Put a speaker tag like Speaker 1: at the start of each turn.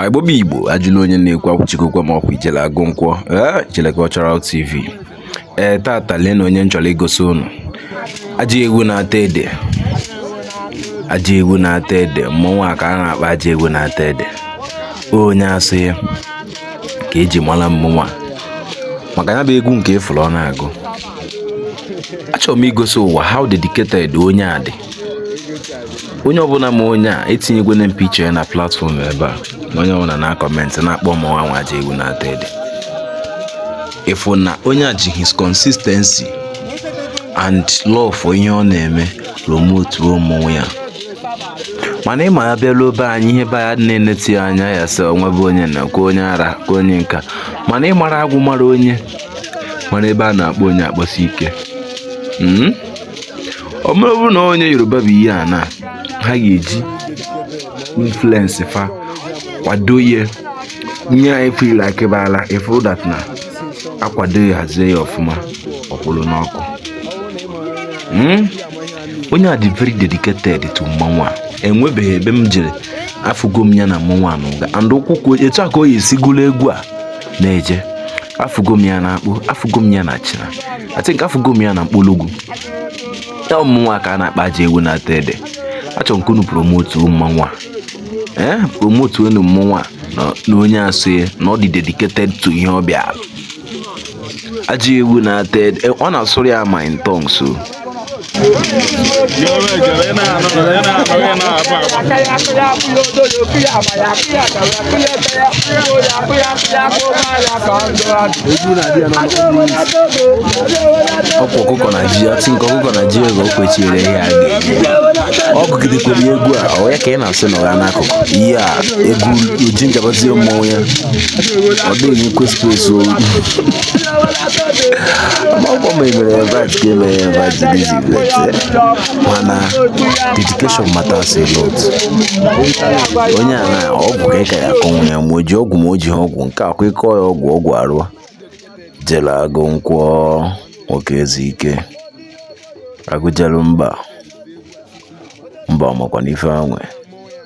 Speaker 1: igbo bụ igbo ajụla onye na-ekwu akwụchikokwe ma ọkwa ijele agụ nkwọ ijele cultural tv ee tata lee na onye m chọrọ igosi unu ajị ewu na-ata ede ajị ewu na-ata ede mmọnwụ a ka a na-akpọ ajị ewu na-ata ede onye asị ya ka e ji mara mmọnwụ a maka ya bụ egwu nke ị fụrụ ọ na-agụ achọrọ m igosi ụwa how dedicated onye a dị onye ọbụla ma onye a etinyegwene m picture ya na platform ebe a na onye ọbụla na comment na-akpọ mmanwụ anwa ajị ewu na-ata ede ị fụ na onye a ji his consistency and love for ihe ọ na-eme promotuo mmọnwụ ya mana ị mara a bịaruo be anyị ihe be ya na-eneti ya anya ya sị onwe bụ onye na kwa onye ara kwa onye nka mana ị mara agwụ mara onye mara ebe a na-akpọ onye akpọsi ike hmm? ọ bụrụ na onye yoruba bụ ihe a na ha ga-eji influence fa kwado ihe nye anyị fil akịbala ị fụrụ that na a kwado ya hazie ya ọfụma ọ kwụrụ n'ọkụ hmm? onye a dị very dedicated to mmanwụ a enwebeghị ebe m jere afụgo m ya na mmanwụ a n'uga and ụkwụ etu a ka o yi esi gụlụ egwu a na-eje afụgo m ya na akpụ afụgo m ya na achịna I think afụgo m ya na mkpologwu ya mmọnwụ a ka a na-akpọ ajị ewu na-ata ede achọrọ m ka unu promote mmanwụ a ee eh, promotenụ mmanwụ a na onye asụ ya na ọ dị dedicated to ihe ọ bịara ajị ewu na-ata ede eh, ọ na-asụrụ ya ma in tongues o ọkwa ọkụkọ na ji ọtị nke ọkụkọ na ji ego o kwechiri ihe a ga-eji ọ gụgidekwere egwu a ọ ya ka ị na-asị na ọ ya n'akụkụ ihe a egwu oji njabazie mmọnwụ ya ọ dịghị onye kwesịrị ezu amakwa m emere invite ka emere ya invite dị izi mana dedication matters a lot onye a na ọgwụ ka ị ka ya akọnwụ ya ma o ji ọgwụ ma o ji ọgwụ nke akwa ịkọ ya ọgwụ ọgwụ arụọ ijele agụ nkwọ nwoke ezi ike agụjelu mba mba ọmakwana ife anwe